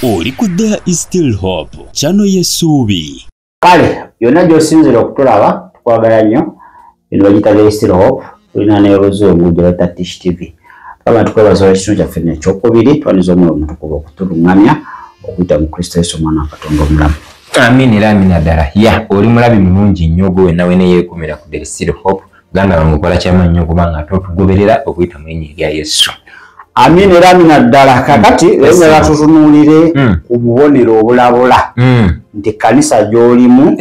oli ku there is still hope kyano yesuubi kale yonna gyosinzira okutulaba tukwagala nnyo eno bagita there is still hope tulina neoluzungu gyebata tish tv aba tukwebazawo ekitundu kyaffe nekyokubiri twaniza omwoyo omutukuba okutulungamya okuyita mu kristo yesu omwana wakatonda omulamu amina era amina ddala ya oli mulabi mulungi nnyo ogwe wenna weneyeekumira ku there is still hope ganda wange okola kyama nnyo kubanga ate otugoberera okuyita mu linnya erya yesu amin era amina ddala kakati enyala tutunuulire hmm. ku bubonero obulabula hmm. nti kanisa gy'olimu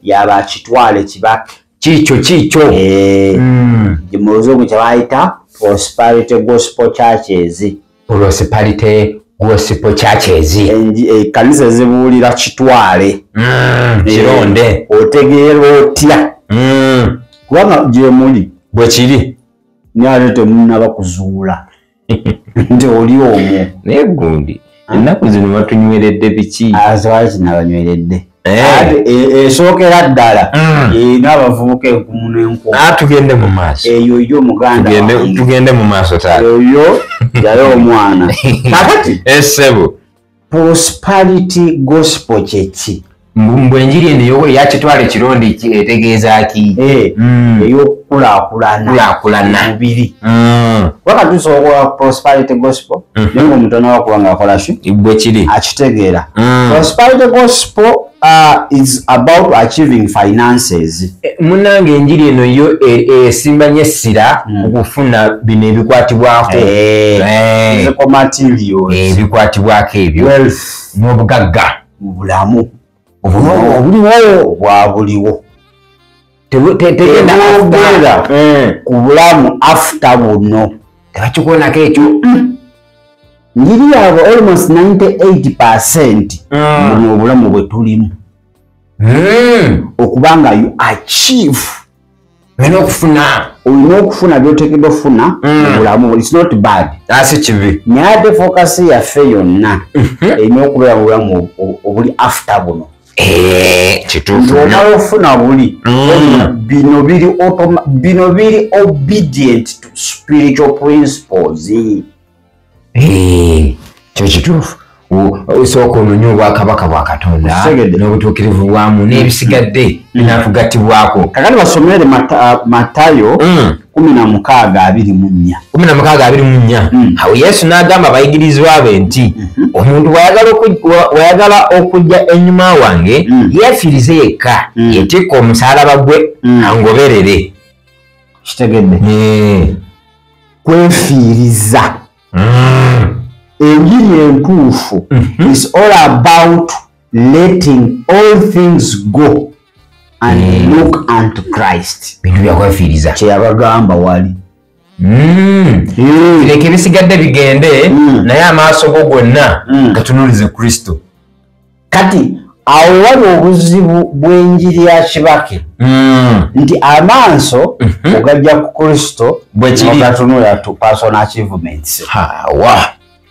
yaba kitwale kibaka kikyo kikyo eh, hmm. muzungu kyebayita prosperity gospel churches prosperity gospel churches ekanisa eh, eh, zibuulira kitwale mm, kironde eh, otegeera otya mm. kubanga gyemuli bwekiri naye temunaba kuzuula nti oli omwo naye gundi ennaku zino batunyweredde biki azwaki nabanyweredde Eh. esookera eh, ddala mm. eh, n'abavubuka enkumu n'enkumu ah, tugende mu maaso eyo yo muganda tugende mu maaso taeyo yali omwana kakati esebo prosperity gospel kyeki mbu enjiri eno yowe yakitwala ekirondi etegeeza ki mm. eyokukulaakulana mubiri mm. wakatusobola prosperity gospel mm-hmm. naye omuntu anawa kuba nga akola ki bwe kiri akitegeera mm. prosperity gospel uh, is about achieving finances eh, munange enjiri eno yo e, esimba e, nyo essira mm. okufuna bino ebikwatibwako eh, eh. ebikwatibwako ebyo n'obugagga mu bulamu obuliwo bwabuliwo tegendaogera eh. ku bulamu afta buno tebakikonako ekyo njiri yabwe almost 98 percent ah. muli obulamu bwetulimu hmm. okubanga you achieve olina okufuna olina okufuna byotekedwa okufuna mm. mubulamu its not bad asi ah, kibi naye ate fokasi yaffe yonna mhm. erina okubeera mubulamu obuli after buno eh, kituufuomala okufuna buli mm. bino biri bino biri obedient to spiritual principles kyo kituufu osooka ononye obwakabaka bwa katonda n'obutuukirivu bwamu n'ebisigadde binakugattibwako kakati basomere matayo mm. kumi na mukaaga abiri mu nnya kumi na mukaaga abiri mu nnya mm. awo yesu n'agamba abayigirizwa be nti mm-hmm. omuntu wayagala okujja enyuma wange mm. yeefirize yekka yetikka omusalaba gwe angoberere kitegedde eh. kwefiiriza mm. enjiri entuufu mhm. is all about letting all things go and mm. look unto christ bintu byakwefiiriza kyeyabagamba wali mm. mm. leka ebisigadde bigende mm. naye amaaso go gonna mm. gatunulize kristo kati awo wali obuzibu bw'enjiri ya kibake hmm. nti amaaso mhm. ogajja ku kristo bwekirigatunula to personal achievements hawa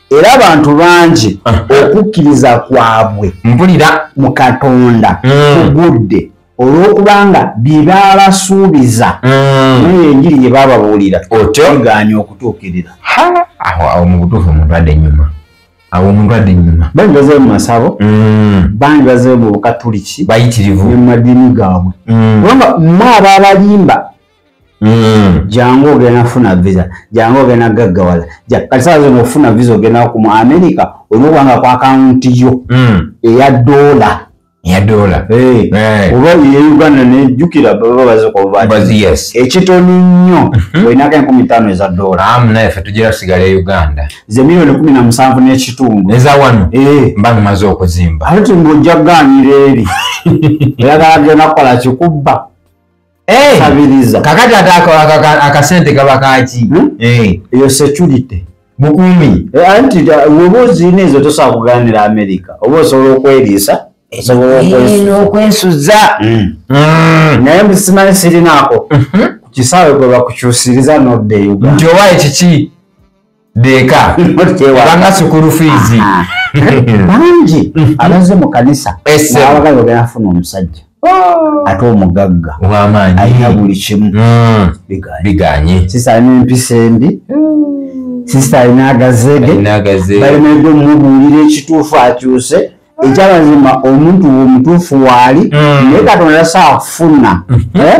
era abantu bangi okukkiriza kwabwe mpulira mu katonda hmm. kugudde olw'okubanga byebaabasuubiza hmm. naye enjiri gye baababuulira otegaanya okutuukirira awo awo mu butuufu omuntu adde enyuma awo omuntu adda enyuma bangi bazeyo mu masabo mm. bangi bazeyo mu bukatuliki bayitirivu mu madiini gaabwe mm. kubanga mwe aba abalimba mm. jangu ogenda kufuna visa jangu ogenda gaggawala kati saa zino okufuna visa ogenda ku mu amerika olina okubanga ku akawunti yo eya doola ya dola eh, eh. oba ye uganda nejukira baba bazikwabaazi ekitono nnyo mhm. olinako enkumi tano eza dola amu naye fe tugira sigala e uganda ze miliyoni kumi na musanvu n'ekitundu eza wano eh. mba numaze okuzimba ate ngaojja kuganira eri era gagenda kukola kikubba Eh, sabiriza kakati ate ako- aka- aka- akasente kaba kaki Hmm? Eh, eyo security bukumi Eh, anti da- woba oziina ezo tosobola kugaanira america oba osobola okweriisa osobola okwesu n'okwesuza Mm. Mm. naye mbu simanyi sirinaako Mhm. ku kisaawe kwe bakukyusiriza n'odda e uganda nti owaye kiki deeka ebanga sukulu fiizi ah. bangi mm-hmm. abaze mu kanisa nabaga yogera afuna omusajja oh. ate omugagga wamaanyi alina buli kimu mm. biganye sisa alina empisa embi mm. sisa alina agazege balina ebyo mumubuulira ekituufu akyuse ekyamazima omuntu omutuufu waali mm. naye katonda safuna mm-hmm. eh?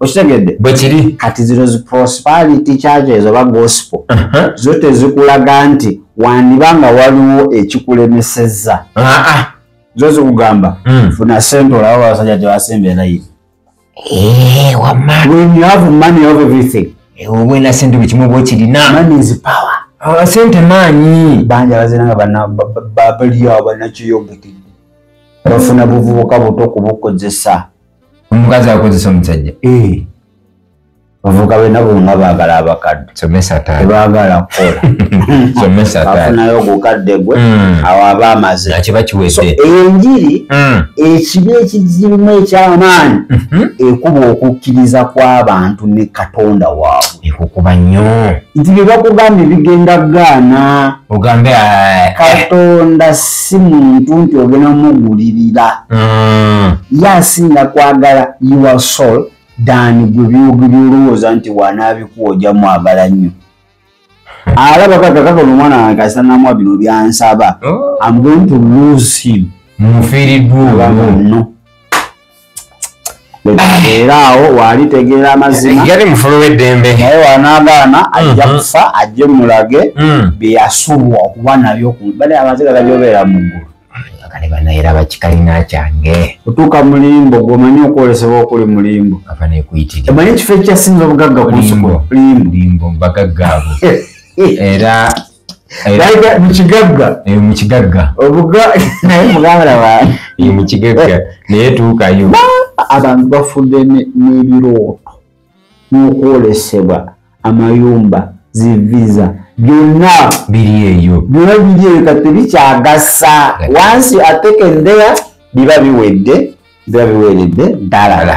okitegedde bwekiri kati zino zi prosperity charges oba gospel uh -huh. zo tezikulaga nti wandiba nga waliwo ekikulemeseza uh -huh. zo zikugamba mm. funa sente olaba basajja tebasemba elayiri eh, when you have money of everything eh, obwena sente buli kimu bwekirina money is power ah, sente maanyi banja bazinanga babaliyo abanakiyombekede bafuna buvubuka buto okubukozesa omukazi akozesa omusajja eh. bavuka bena bonga bagala abakadde tebagala kukolafunayo ogukadde gwe hmm. awo aba amaze enjiri hmm. ekibi ekizirimu ekyamaanyi mhm. ekuba okukkiriza kw'abantu ne katonda waabwe ekukuba nnyo nti byebakugambye bigenda gaana ogambe eh, eh. katonda si muntu nti ogenda mugulirira mm. ye asinga kwagala your soul dan gwe byolowooza nti wanaabikuwa oja mwagala nnyo alaba kakakakona omwana wange kasita namwa bino byansaba oh. am going to lose him mufiiriddwa olwo era awo waali tegeera amazima yali mufulu w'eddembe naye wanaagaana mhm. ajja kufa ajje mulage mm. byeyasubwa okuba nabyo bali amaziga gagyobeera mu ggulu kale banayera bakikalina kyange otuuka mulimbo gwomanyi okwolesebwa okuli mulimbo afanekuyitiremanyi ekifo ekyasinza obugagga kulimbo bagagga abo era mukigagga mukigagga obuga naye muganda wange mukigagga naye tuukayo abantu bafudde n'ebirooto n'okwolesebwa amayumba ziviza byonna biri eyo byonna biri eyo kati bikyagasa wansi atekendera biba biwedde biba biweredde ddalala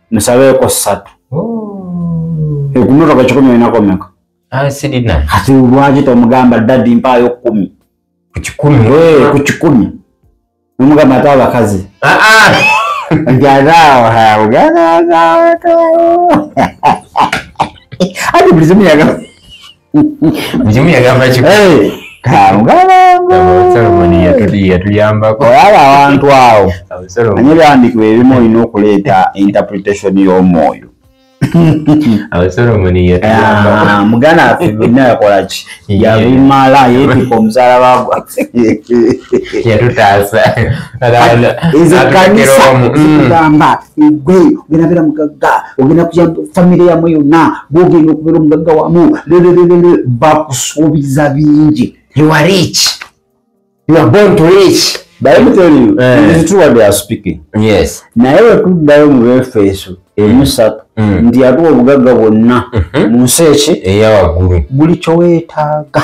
nsabeeko ssatu oh. ekumotoka kikumi olinakomeka ah, sirina kati lwaki tomugamba dadi mpaayo kumi ku kikumi ku kikumi nomugamba ate abakazi ah, ah. ntiazaawahaugaaaaaa ati buli zimu yagala mukimu yagamba ki yatuyambako olaba abantu awo anye byandikibwa ebimu olina okuleeta interpretation y'omwoyo muganda affe byonna yakola ki yabimala yetika omuzaala bagwa yatutaasa ezo kanisa mm. tugamba egwe ogenda beera mugagga ogenda kuya famiry yamu yonna bwogenda okubeera omugagga wamu lelelelele bakusuubiza bingi ewarich naye wetuddayo mu befeeso emusatu mm. mm. nti yatuwa obugagga bwonna mm-hmm. mu nsi eki eyawaggulu buli kyoweetaaga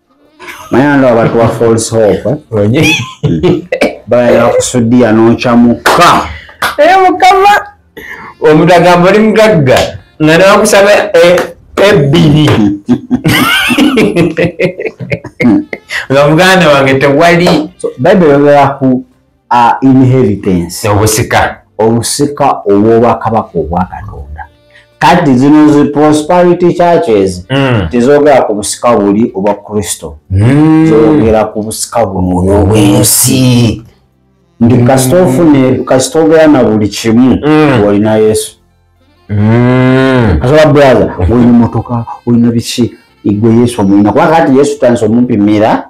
mayando abantu ba false hope bayala kusudiya nokyamuka naye mukama omuntu agamba oli mugagga nga nawakusaba eh, ebbiri nga muganda wange tewali bayibuli yogeraku a inheritance obusika obusika obwobwakabaka obwa katonda kati zino zi prosperity churches mm. tizogera ku busika buli obwa kristo mm. zogera ku busika buno obwensi ndi mm. kasita ofune kasita ogera na buli kimu mm. olina yesu mm. asoba braza olina motoka olina biki igwe yesu omulina kuba kati yesu tansi omumpimira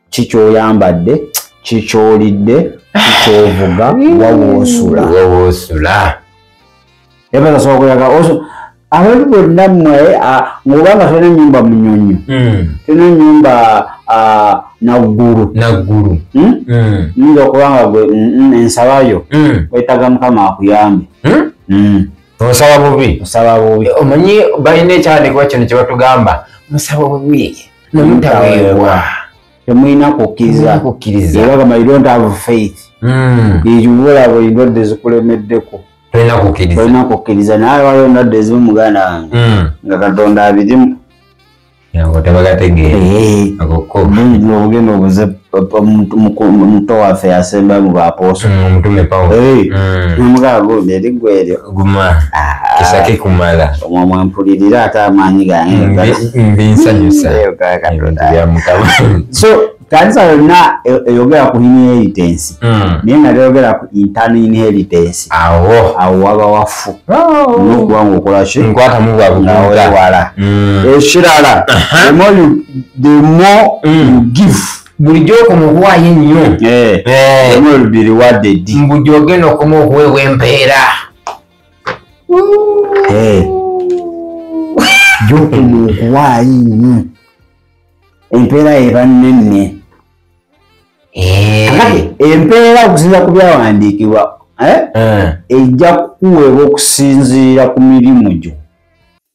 kikyoyambadde kikyolidde kikyovuga wawoosula wawoosula ebaza sobola kulaga abantu bonna mmwe ngoba nga tulina enyumba munyonyo hmm. tulina enyumba naggulu naggulu hmm? hmm. nyinza okuba nga gwe ensabayo wetaga mukama akuyambe osaba bubi osaba bubi omanyi balina ekyandikuba kino kyebatugamba musaba bubi nomutaweebwa temulina kukkiriza era gamba you don't have faith hmm. ekibula bwe ndwadde zikulemeddeko tolina kukkiriza naye waliwo ndwadde ezimu muganda wange hmm. nga katonda abirimu tebagategeera eh. ogenda obuze muto waffe yasemba mu bapooso mm, omutume pawulo mm. nomugaba gundi eri gwe eryo guma ah. kisake kumala omwo mwampulirira ate amaanyi gange mbinsanyusa so kanisa yonna e, eyogera ku inheritance mm. naye nga teyogera ku intern inheritance awo awo waba wafu oh. nokuba ngaokolaki nkwatamu bwabuwala ekirala the more mm. you give bulijjo okoma okuwaayo ennyo eh, eh. mbujo ogenda okoma okuweebwa empeera eh. gyokoma okuwaayo ennyo empeera eba nnenne empeera okusinza ku byawandiikibwa ejja kukuweebwa okusinziira ku mirimu gyo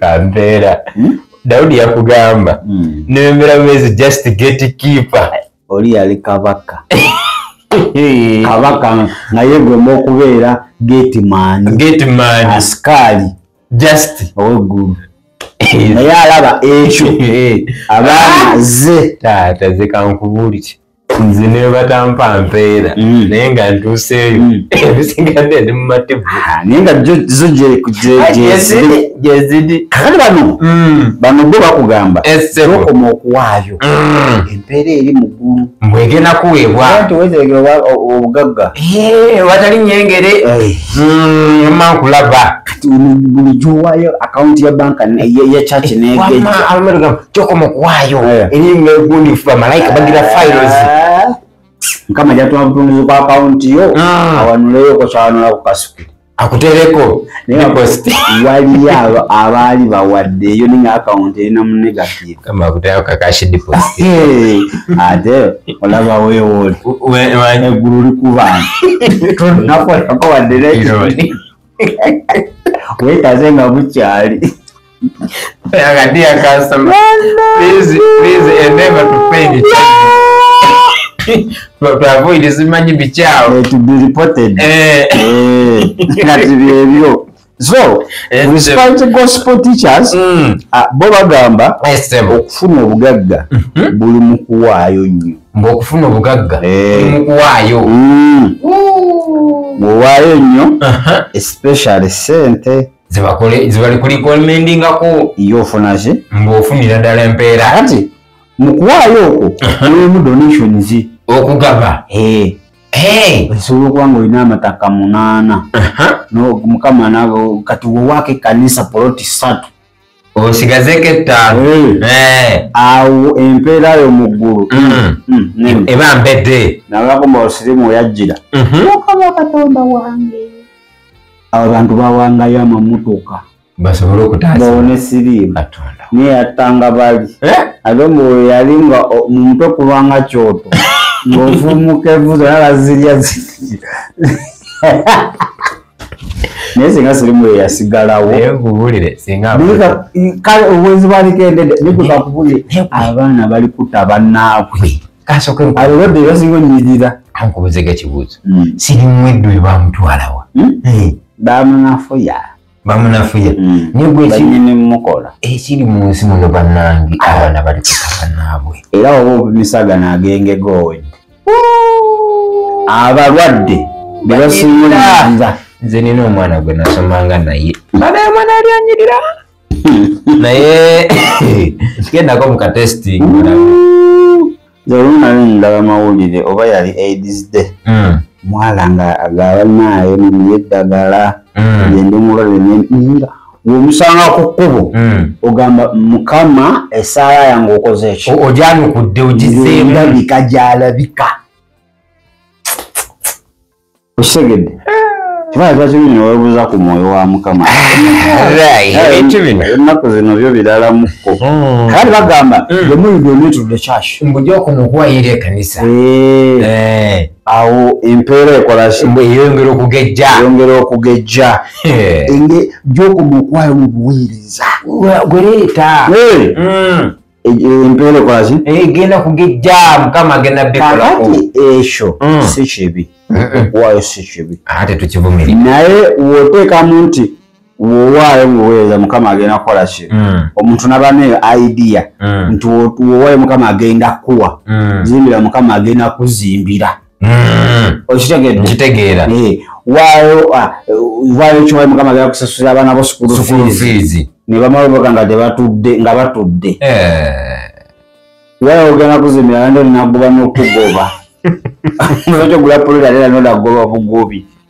kampeera hmm? dawudi yakugamba hmm. nembera bumezi just get keeper oli yali kabaka kabaka naye gwemu okubeera gatemanasikaali just oweggulu naye alaba ekyo abaana ze taata ze kankubuuliki nze nebatampa mpeera mm. naye nga ntuuseeyo mm. ebisigadde ndi mumativu ah, naye nga zo gyezidi kakati bano mm. bano bo bakugamba okoma okuwaayo empeera eri muggulu mbwegenda kuweebwaobugagga eh, watali nyengere eh. mankulaba kati buli gyowaayo akawunti ya banka ya chaki negejja kyokoma okuwaayo eh. eriringa egundi nfu bamalayika bagira eh. files mukama jatuma butunduzi kwa akawunti yo ah. awanuleyoko kyawanula ku kasuku akutereko waliyo abaali bawadde eyo ninga akawunti erina mu negative ate olaba wewoeggulu likubantu nakolako wadde wekaze nga bukyali akati akasoma please please endeavor to pay the twavuire zimanyi bikyawo eh, eh. eh, nga tibyebyo so respite gospel teachers mm. ah, bo bagamba okufuna obugagga mhm. buli mukuwaayo nnyo mbu okufuna obugagga eh. mukuwaayo mm. bwowaayo ennyo uh-huh. especially sente zibali kulikomendingako ye ofunaki mbu ofunira ddala empeera kati mukuwaayo okwo uh-huh. mulimu donations okugaba eh. osobola okuba nga olina amataka munaana uh-huh. mukama nabo kati wowaako ekkanisa poloti satu osigazeko ettaano eh. awo empeera yo mu ggulu mm. mm, mm. eba mbedde nagamba osirimu weyajjira mhm. mukama katonda wange abo bantu bawangayo amamutuka basobole okutabaone siriimu naye yattanga bali eh? ate mbu yali nga mu mutwe kulwanga kyoto ng'ofumuka evuzo nabazirya ziri naye singa sirimu ye yasigalawo kale obwenzi bwalikendede nikuzakubuli abaana bali kuta banaabwe alobadde basinga onyirira ankubuzega ekibuuzo hmm. sirimu eddu ebamutwalawa hmm? eh. bamunafuya bamunafuya hmm. nigwekimukola ekiri eh, mu nsi muno banange abaana bali kuta banaabwe era oba obumisagana agengegowedde abalwadde bebasiiza nze nina omwana gwe nasomanga naye bana omwana yali anyirira naye gendako mu katesting zolunali ndaba mawulire oba yali aids day hmm. mwala nga agaba naayo neye eddagala hmm. gyendi mulwadde nenga womusanga ku kkubo hmm. ogamba mukama esaala yange okoze ekyo ojanukudde ogizeemulabika gyalabika okitegedde kibaazakibinowebuza ku mwoyo wa mukama ebintu bino ennaku zino byo biralamukko hmm. kale bagamba hmm. the more you donate to the church mbuja okunokuwayira ekanisa eh. Eh. awo empeera ekolakiyongera okugejja yongera okugejja enge gyokomuokwala mu buweereza gwereeta hmm. e, e, empeera ekolaki egenda eh, kugejja mukama agenda bikolako ekyo hmm. si kibi okuwaayo si kibi ate tukivumirira naye woteekamu nti wowaayo ngaoweereza mukama agenda kukola ki mm. omuntu nabaneyo idea mm. nti wowaayo mukama agenda kukuwa mm. zimbira mukama agenda kuzimbira okitegeera eh, waayo ah, waayo kiwayo mukama agenda kusasula abaana bo sukulufiizi ne bamala oboga nga tebatudde nga batudde eh. waayo ogenda kuzimbira nandi olinagoba nokugoba okyogula pulira era nodagoba bugobi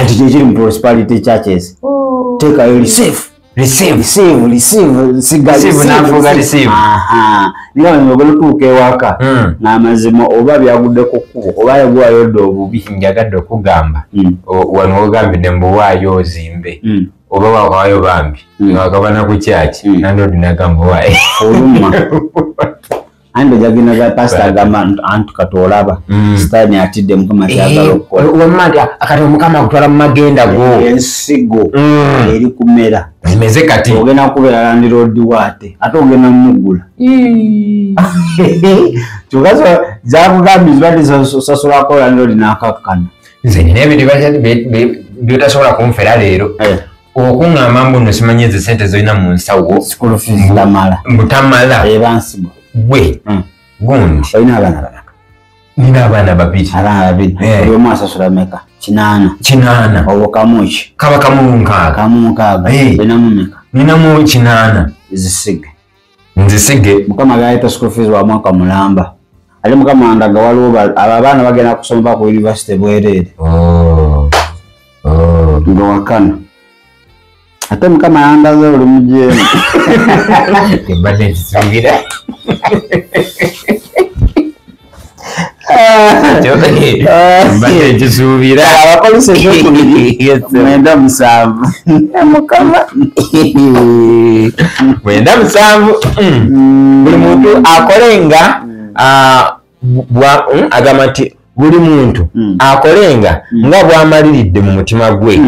kati kyekiri mu prosperity churches oh. teekayo receive nogala otuuka ewaka hmm. n'amazima oba byagudde ku kkubo oba yagwayo dda obubi njagadde okugamba hmm. wano ogambidde mbuwaayo ozimbe hmm. oba wawaayo bambi wakabana ku kyaki nandoodi nagamba waaye oluma ande jagina ga pastor gama antu katolaba mm. stani atide mukama eh, kyagala okukola wamma nti akati omukama akutwala mu magenda go eh, ensigo mm. eri kumera emeze kati ogenda kubeera landiroodi waate ate ogenda mumugula kyogaso zakugambye zibadde sasulako landiroodi nakakkana nze nyina ebyo byotasobola kunfera leero eh. okuŋŋamba mbu no simanyi ezo sente zolina mu nsawo mbutamala eh, gwe hmm. gundi olina abaana banaka nina abaana babiri abaana babiri eh. buli omu asasula meka kinaana kinaana obo kamu ki kaba kamu nkaaga kamu nkaaga eh. olinamu meka ninamu kinaana zisige nzisige mukama gaita school fees wa mwaka mulamba ate mukama wanga nga waliwo abo abaana bagenda kusomba ku university bwereere oh. oh. nga wakana ate mukama yangaze oli mujeemu mbadde nkisuubira abapolisi ekyokubiri mwenda musanvu mukama mwenda musanvu mm. buli muntu akole nga mm, agamba nti buli muntu mm. akole nga nga bwamaliridde mu mutima gwe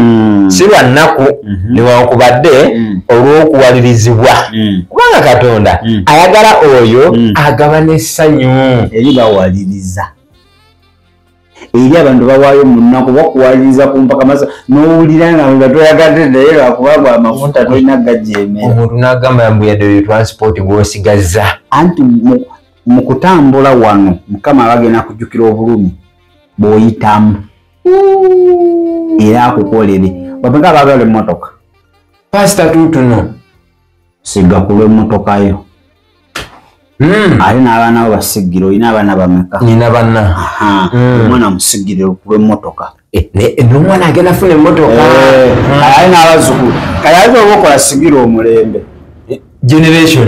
si lwa nnaku mm-hmm. newankubadde olw'okuwalirizibwa hmm. kubanga katonda hmm. ayagala oyo hmm. agaba n'essanyu eri bawaliriza eri abantu bawaayo munaku bakuwaliriza ku mpaka masa n'owulira nga nga toyagadde naye lwakuba gwa amafuta tolina gajemera omuntu n'agamba mbu yadde oyo transport gw'osigazza anti mu kutambula wano mukama abagenda kujjukira obulumi bw'oyitamu era akukolere babaga bagala emmotoka pasita tutuno siga kulwa emmotoka yo hmm. ate n'abaana bo basigire olina abaana bameka nina banna hmm. omwana musigire kulwa emmotoka eh, eh, nomwana agenda funa emmotoka eh, hmm. kayali n'abazukulu kayali oba okola sigira omulembe generation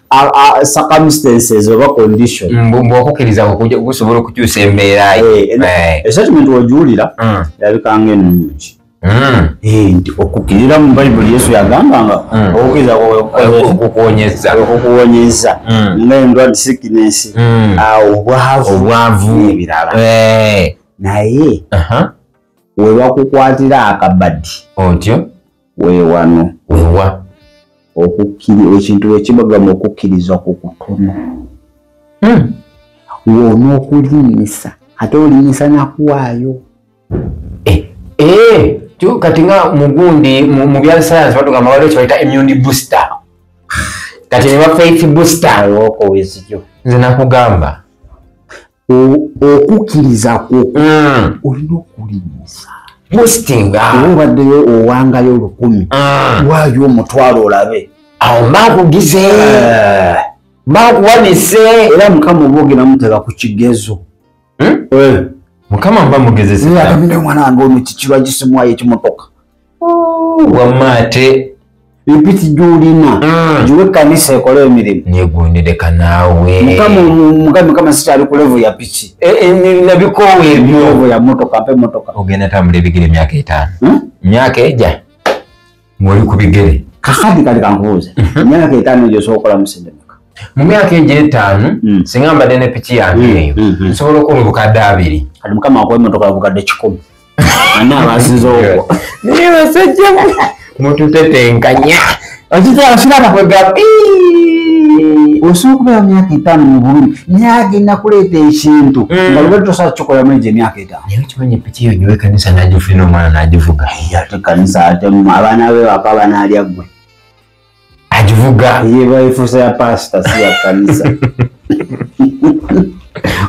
circumstances oba condition mm, mbwokukiriza okusobola okukyusa embeera eh, eh. esetimenti ogiwulira mm. erabika nga ennungi mm. eh, nti okukirira mu bayibuli yesu yagamba nga okukuwonyeza nga endwad sickness ah, obwavu ebirala naye webakukwatira akabadi otyo wewano wewa okukkiri ekintu wekibagamba okukkiriza ku kutono hmm. wona okulimisa ate olimisa nakuwaayo eh, eh, kati nga mugundi mu byasayansi batugamba waliwo kyebaita immune booster kati ne bafaith booster nze nakugamba okukkiriza kwo mm. olina okulinnyisa mustinga oba obaddeyo owangayo olukumi mm. waayo omutwalo olabe awo mbakugize eh. mbakuwanise era mukama oba ogenda mutega ku kigezo hmm? eh. mukama mba mugezezaakamina omwana wange ono kikirwa gisimwayo ekimutoka wamma ate empiti gyolina mm. giwe ekkanisa ekole emirimu negundideka naawe mukama sikyali kulevu ya piki e, e, nabikoowa ebyolevu ya motoka mpe motoka ogenda tambula ebigere emyaka etaano hmm? myaka eja ngoli ku bigere kakadi kali kankubuuze mhm. myaka etaano gyosobola okukola musindemeka mu myaka ejo etaano hmm. singa mbadde ne piki yange hmm, eyo nsobola okuwa obukadde abiri kati mukama akuwa emotoka obukadde kikumi ani abasinza okwo naye basajja mututetenkanya osobola okubeera myaka etaano mu bulumi naye agenda kuleeta ekintu mm. nga lubadde tosobola kukikola muri gye myaka etaano naye okimanyi epiki yo nyowe kanisa nagifuina omwana nagivuga ate kanisa ate abaana be baka banaalya ggwe agivuga yeba efusa ya pastor si ya kanisa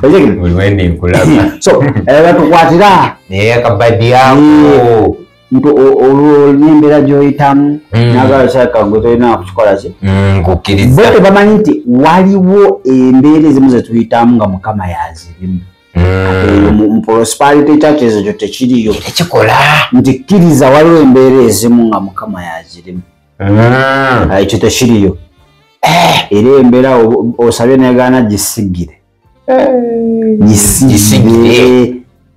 buli wenda enkulaba so batukwatira naye akabadi ako nti olwo nembera gyoyitamu mm. nagala kyaka gwe tolina kukikola ki mm, nkukkiriza bo tebamanyi nti waliwo embeera ezimu zetuyitamu nga mukama yazirimu mu prosperity churches ekyo tekiriyo tekikola nti kkiriza waliwo embeera ezimu nga mukama yazirimu hmm. ah, ekyo tekiriyo eh. era embeera osabye negaana gisigire eh. gisigire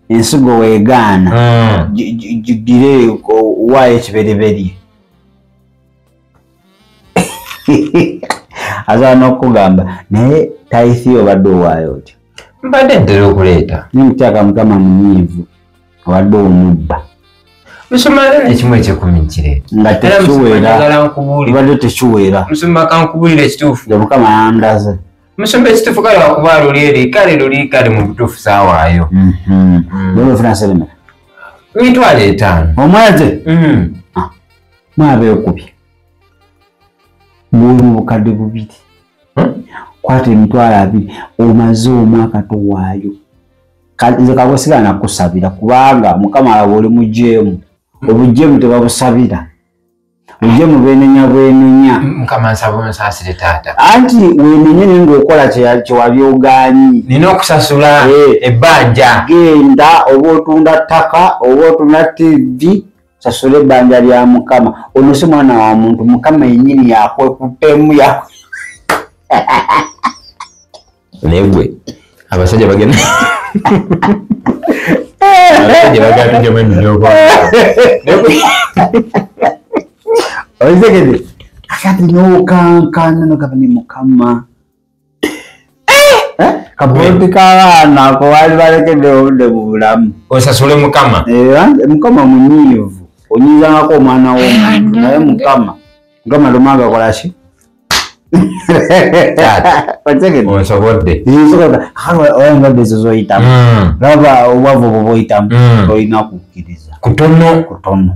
ensigo wegaana hmm. gigire wayo ekibereberye asobola n'okukugamba naye taithi obadde owaayo otya mbadde ntera okuleeta naye mukyaka mukama munyiivu obadde omubba ekimu ekyekumi nkireetaobadde tekiweera mukama yandaze musumba ekituufu kale wakuba luli eri kale luli kale mu butuufu saawaayo mhm. mm. mitwalo etaano omwezi mm. ah. mwabeekubye muwomu obukadde bubiri hmm? kwata emitwalo abiri omaze omwaka towaayo nze kagosigala nakusabira kubanga mukama alaba oli mujeemu hmm. obujeemu tebabusabira obujeemu bwenenya bwenenya anti wenenye naye ngaokola kyewali oganyi nina okusasula eh. ebbanja genda oba otunda ttaka oba otunda tivi sasula ebbanja lya mukama ono si mwana wa muntu mukama yenyini yakwekutemu ya naye gwe abasajja bagenda oizekede akati nokankana nogaba ne mukama kabulodi kabaana ako wali balekedde obudde mu bulamu osasule mukama eh, mukama munyiivu onyizangako omwana womuntu naye mukama mukama lumanga kolaki onsobodde oyambadde ezo zoyitamu laba obwavu obwo boyitamu tolina kukkiriza kutono kutono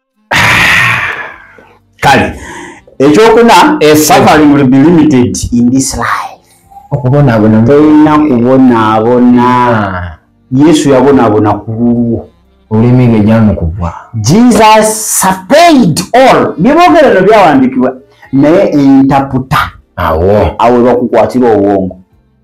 kale ekyokuna suffering will be limited in this life okubonabona tolina kubonabona ah. yesu yabonabona ku lulwo olulimi lwe gyamukubwa jesus supplied all byebogera no byawandikibwa naye entaputa awo awo lwakukwatira obwongo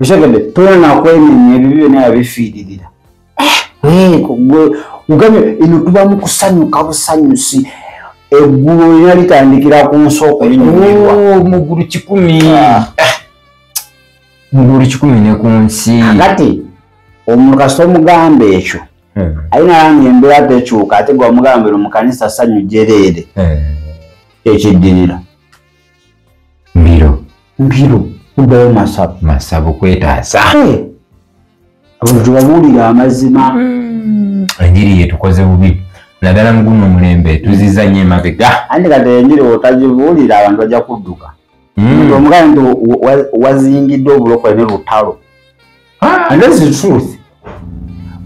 okitegedde toyina nakwenenya ebyo byona yabifiiririra eh, ugambye eno tuba mu kusanyuka busanyusi eggulu olina litandikira ku nsooka linyumirwa oh, mugulu kikumi ah. eh, mugulu kikumi ne ku nsi kati omukasita omugamba ekyo hmm. aye nalanga embeera tekyuka ate gwe omugamba ero mu kanisa sanyu jereere eh. ekiddirira mbiro mbiro kuddayo masabo masabo kwetaasa abantu tubabuulira amazima hmm. enjiri yetukoze bubi naddala muguno omulembe tuziza nyo emabega andi kati enjiri otagibuulira abantu bajja kudduka hmm. omugaa nti wazingidde obulokole ne lutalo ah. and this is truth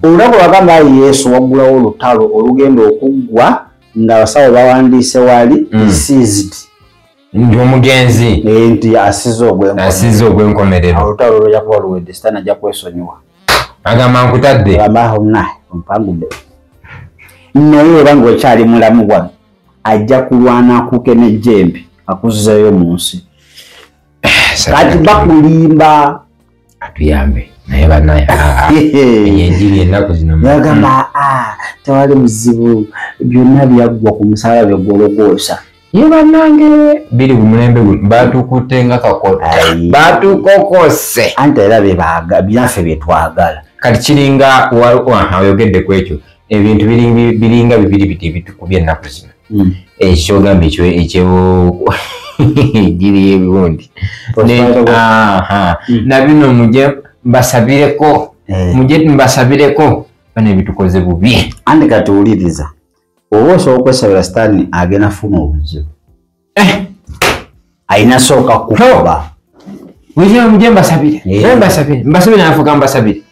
olulabo lwagamba yesu waggulawo olutalo olugenda okuggwa nga abasawo bawandiise waali mm. seized ndi omugenzi eh, nti asiza ogwenkomerero olutalo lwoja kuba luwedde sitaani ajja kwesonyiwa agamba nkutadde amahona ompangudde naye oba ngaokyali mulamu bwano ajja kulwana akuke nejjembe akuzizeyo mu nsi kati bakulimba atuyambe naye banaye ah, ah, ah. enjiri ennaku zinonagamba tewali muzibu byonna byaggwa ku musaala byegwologoosa ye banange biri ku mulembe guno batukutte nga kakota batukokose anti era bebaga byaffe byetwagala kati kiringa oyogedde ku ekyo ebintu biringa bibiri biti ebitukubye ennaku zino hmm. ekyogamba eh, ekyo ekyo giri ebiwundi hmm. nabino muje mbasabireko eh. muje mbasabireko bano ebitukoze bubi andi katuwuliriza oba osobola okwesabira sitaani agenda funa obuzibu eh. alina sooka kukuba mujja mujja mbasabire Eh. naye mbasabire mbasabire nafuka mbasabire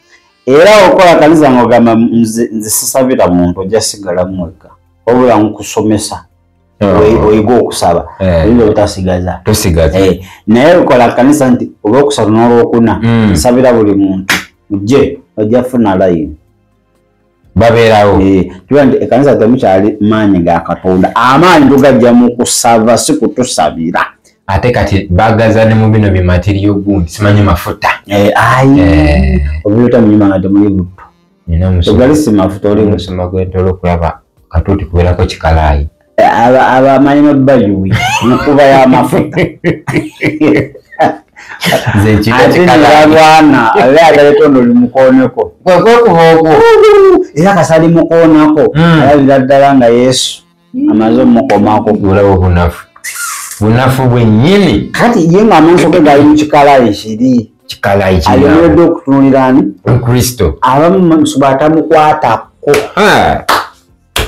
era okola kaliza ngogamba nze nze sisabira muntu ojja sigala mwekka wabula nkusomesa oyi- oyige okusaba Eh. oyinza obutasigaza tosigaza Eh, naye lukola kanisa nti olwokusatu n'olwokuna Mm. nsabira buli muntu mujje ojja funa layini babeerawo eh, kiba nti ekanisa temukyali maanyi ga katonda amaanyi tugajja mu kusaba si kutusabira ate kati bagaza ne mu bino bimateriyo gundi simanyi mafuta eh, ayi eh. obiota munyuma nga temuli butto ogali si mafuta oli musoma gwentolo okulaba katuti kubeerako kikalaayi abamanyi nobayuwi mukuba yamafuta ate nebalwana abe agaleta ono limukoneko kwekuba okwo era kasali mukonako hmm. alabira ddala nga yesu amaze omukomako olaba obunafu bunafu bwenyini kati ye nga amaaso ge gali mukikalayi kiri kikalayialionedde okutunulirani kristo abamu batamukwatako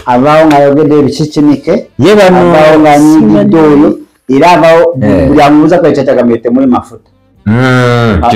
avaawo ng'ayogedde ebikikinike avaawo ng'anyigidde oyo era avaawo eh. buli amubuuza kale kyatagamire temuli mafuta hmm, ah,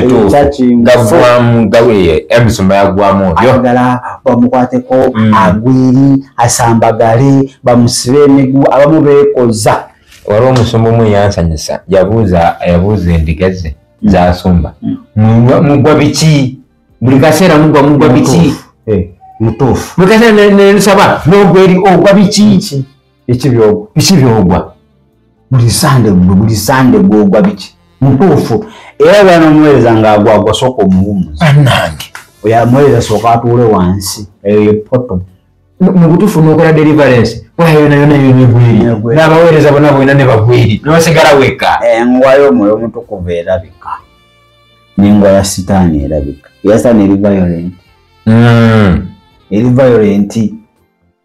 emisumba yagwamu ayagala bamukwateko hmm. agwiri asambagale bamusibe emigu abamu beekoza waliwo omusumba omu eyansanyusa yabuuza yabuuza endiga ze zasumba mugwa biki buli kaseera mugwa mugwa biki eh. mutuufu buli kaseera nensaba nogwa eri ogwa biki biki byogwa buli sande gwe buli sande gwogwa biki mutuufu era bwana omuweereza ngaagwagwa sooka omuwumuza anange oyo amuweereza sooka atuule wansi eyo yepoto mu butuufu nokola deliverance waya yona yona yonigwiri n'abaweereza bona bwena ne bagwiri nosigala wekka engwayo eh, omwoyo omutukuvu erabika nengwa ya sitaani erabika eya sitaani eri violent hmm. eri violent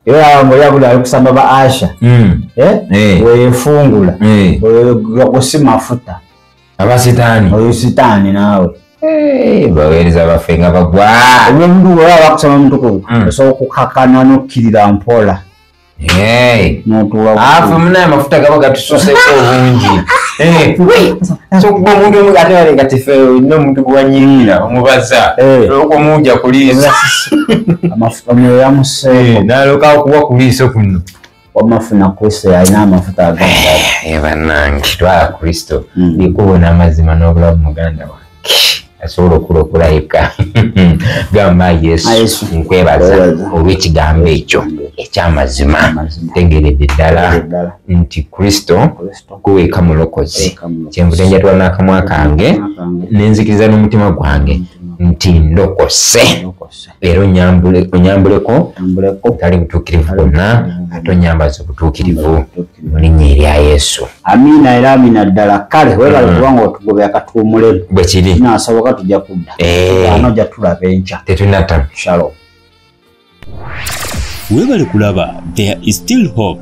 era awange oyabula ali kusamba ba asha hmm. eh? Eh. weyefungula oyo gwa kusimafuta abasitaani oyo sitaani naawe eh, baweereza baffe nga bagwa omuntu weba bakusaba mutukuvu hmm. osobola okukakana nokkirira mpola afe munaye amafuta gaba gatususeko obungi eh, sokuba omuntu omu ate wale nga tife olina omuntu gwewanyirira hmm. omubaza eh. olwokuba omuwuja kuliisa omwoyo yamuseeko naloka okuwa kuliiso kuno wamma funa kristo yalina amafuta agabanange eh, twala kristo hmm. likubo n'amazima n'obulabu muganda wange asobola okulokola yekka gamba yesu nkwebaza olw'ekigambo ekyo eky'amazima tegeredde ddala nti kristo kuweeka mulokozi kyenvude njatula n'akamwa kange nenzikiriza n'omutima gwange nti ndokose era onyambuleko tali butuukirivu bwonna ate onyambaza obutuukirivu mu linnya erya yesu amiina era amiina ddala kale webale mm. kubanga otugobya katuumule bwe kiri nasoboka tujja kudda eh. ano ja tulaba enkya tetunata shalom webale kulaba there is still hope